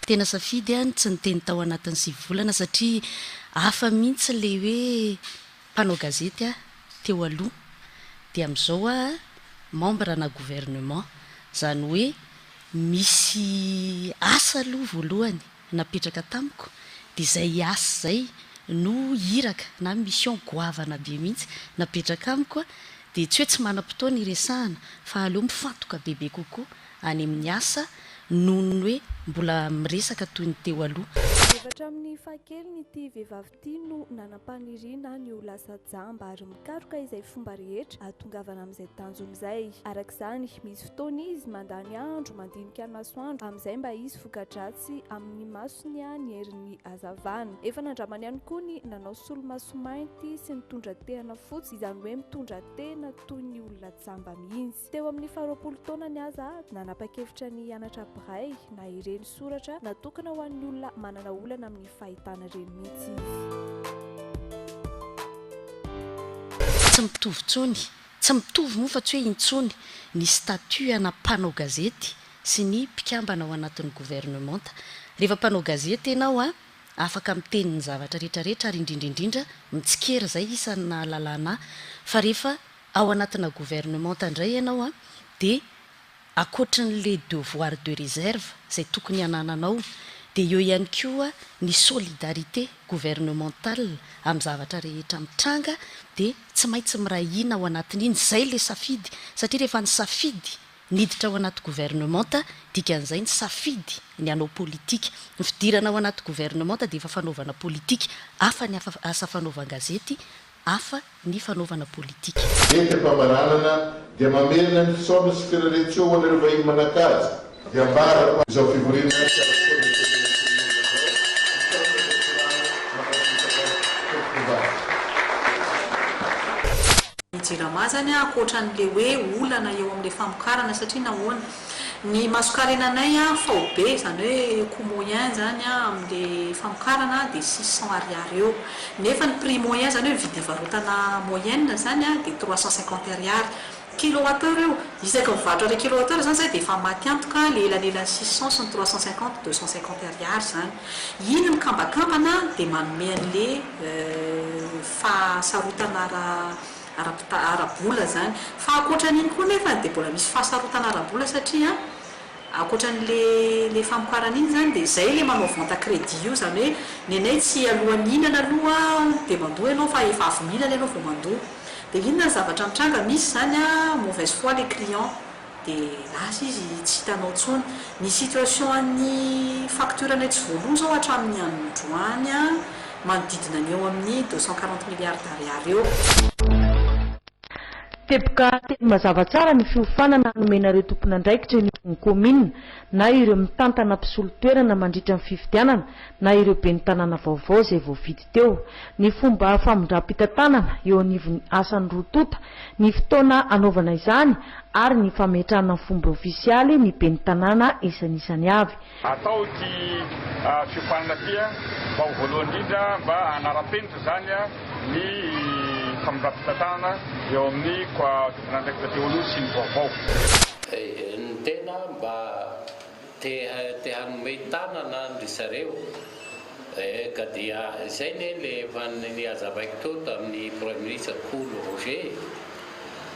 Tena safidy aho ny tsy niteny tao anatin'ny sivy volana satria hafa mihitsy ilay hoe mpanao gazety aho teo aloha dia amin'izao aho membre ana gouvernement. Izany hoe misy asa aloha voalohany. napetraka tamiko dia izay hiasa izay no iraka na mission goavana be mihitsy napetraka amiko dia tsy hoe tsy manam-potoana hiresahana fa aleo mifantoka bebe kokoa any amin'ny asa noho ny hoe mbola miresaka toy ny teo aloha. Dia efa hatramin'ny fahakeliny ity vehivavy ity. Ity no nanam-paniriana ny ho lasa jamba ary mikaroka izay fomba rehetra hahatongavana amin'izay tanjony izay. Araka izany, misy fotoana izy mandany andro mandinika ny masoandro amin'izay mba hisy voka-dratsy amin'ny masony ny herin'ny hazavana. Efa nandramany ihany koa ny nanao solomaso mainty sy nitondra tehana fotsy, izany hoe mitondra tehina toy ny olona jamba mihitsy. Teo amin'ny faharoapolo taonany aza, nanapa-kevitra ny hianatra braille na ireny soratra natokana ho an'ny olona manana olana amin'ny fahitana ireny mihitsy izy. Tsy mitovy intsony, tsy mitovy moa fa tsy hoe intsony, ny statut ana mpanao gazety sy ny mpikambana ao anatin'ny governemanta. Rehefa mpanao gazety ianao, afaka miteny ny zavatra rehetra rehetra ary indrindra indrindra mitsikera izay isan'ny nahalalana ahy. Fa rehefa Ao anatina gouvernementa indray ianao an, dia ankoatran'ilay devoir de reserve izay tokony hanananao, dia eo ihany koa ny solidarité gouvernementale amin'ny zavatra rehetra mitranga, dia tsy maintsy miray hina ao anatin'iny, izay ilay safidy, satria rehefa ny safidy niditra ao anaty gouvernementa, dikan'izay ny safidy ny hanao politika. Ny fidirana ao anaty gouvernementa dia efa fanaovana politika, hafa ny asa fanaovan-gazety, hafa ny fanaovana politika. Ventim-pamaranana dia mamerina ny fisaorana sy firarian-tsoa ho anareo vahiny manan-kaja. Dia ambara fa izao fivoriana tsy ara-potoana eto Anosimongotra izao, misaotra Dokotera Solange Tompokova. Ny jirama zany ankoatran'le hoe olana eo amle famokarana satria nahoana? Ny masokarenanay an faobe, izany hoe coût moyen izany an amin'le famokarana an dia six cents ariary eo. Nefa ny prix moyen izany hoe ny vidim-pivarotana moyenne izany an dia trois cent cinquante ariary. Kilowatt heure io. Isaka mivarotra an'ilay kilowatt heure izany izahay dia efa maty antoka ilay elanelan'ny six cents sy ny trois cent cinquante, deux cent cinquante ariary izany. Iny mikambakambana dia manome an'ilay fahasarotana ara. ara-pita, ara-bola izany. Fa ankoatra an'iny koa nefany dia mbola misy fahasarotana ara-bola satria an, ankoatra an'le le famokarana iny izany dia izay le manao vente à crédit io izany hoe ny anay tsy alohan'ny hihinana aloha dia mandoa ianao fa efa avy mihinana ianao vao mandoa. Dia inona ny zavatra mitranga, misy izany an, mauvaise foi le client. dia lasa izy tsy hitanao intsony. Ny situation an'ny facture anay tsy voaloa izao hatramin'ny androany a, manodidina ny eo amin'ny deux cent quarante milliards d'ariary eo. Teboka teny mazava tsara ny fiofanana hanomenareo tompon'andraikitra eny amin'ny kaominina na ireo mitantana mpisolo toerana mandritra ny fifidianana na ireo ben'ny tanàna vaovao izay voafidy teo. Ny fomba famindram-pitantanana eo anivon'ny asan'ny roa tonta, ny fotoana hanaovana izany ary ny fametrahana ny fomba ofisialy ny ben'ny tanàna isanisany avy. Atao ity fiofanana ity mba ho voalohany indrindra mba hanara-penitra izany ny famindram-pitantanana eo amin'ny Coa Tomponandraikitra Teo Aloha sy ny Vaovao. Ny tena mba Te te hanome tanana ndry zareo eh ka dia izay ne le efa nihazavaiko teo tamin'ny praiminisitra Kolo Roger e,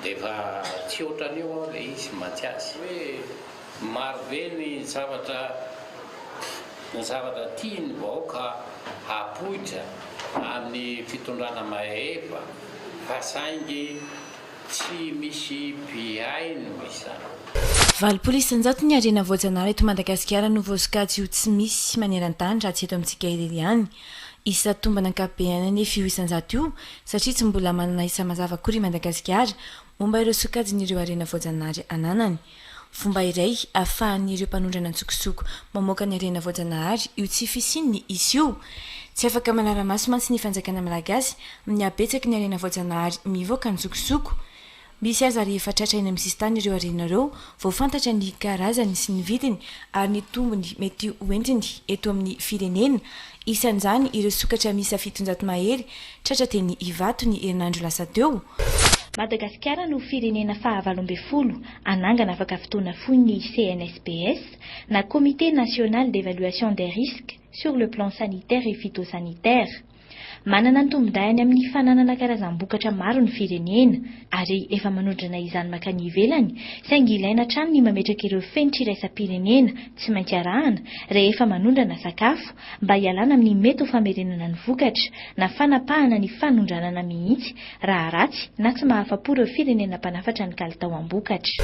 dia efa tsy otran'io aho le izy mantsy azy. Hoe maro be ny zavatra ny zavatra tian'ny vahoaka hapoitra amin'ny fitondrana mahefa fa saingy Tsy misy mpihaino izany. Valopolo isanjato ny harena voajanahary eto Madagasikara no voasokajy ho tsy misy maneran-tany raha tsy eto amintsika irery ihany. Isa tombana ankapobeny anefa io isanjato io satria tsy mbola manana isa mazava akory i Madagasikara momba ireo sokajin'ireo harena voajanahary ananany. Fomba iray ahafahan'ireo mpanondrana an-tsokosoko mamoaka ny harena voajanahary io tsy fisian'ny isa io. Tsy afaka manara-maso mantsy ny fanjakana malagasy amin'ny habetsaky ny harena voajanahary mivoaka an-tsokosoko. Misy aza rehefa tratra eny amin'ny sisintany ireo harena ireo vao fantatra ny karazany sy ny vidiny ary ny tombony mety hoentiny eto amin'ny firenena. Isan'izany ireo sokatra miisa fitonjato mahery Tratra teny Ivato ny herinandro lasa teo. Madagasikara no firenena fahavalo ambin'ny folo hanangana afaka fotoana fohy ny CNSPS, na Comité National d'Evaluation des Risques sur le plan sanitaire et phytosanitaire. Manana ny tombondahiny amin'ny fananana karazam-bokatra maro ny firenena, ary efa manondrana izany mankany ivelany, saingy ilaina hatrany ny mametraka ireo fenitra iraisam-pirenena tsy maintsy arahana rehefa manondrana sakafo, mba hialana amin'ny mety ho famerenana ny vokatra na fanapahana ny fanondranana mihitsy raha ratsy na tsy mahafa-po ireo firenena mpanafatra ny kalitao am-bokatra.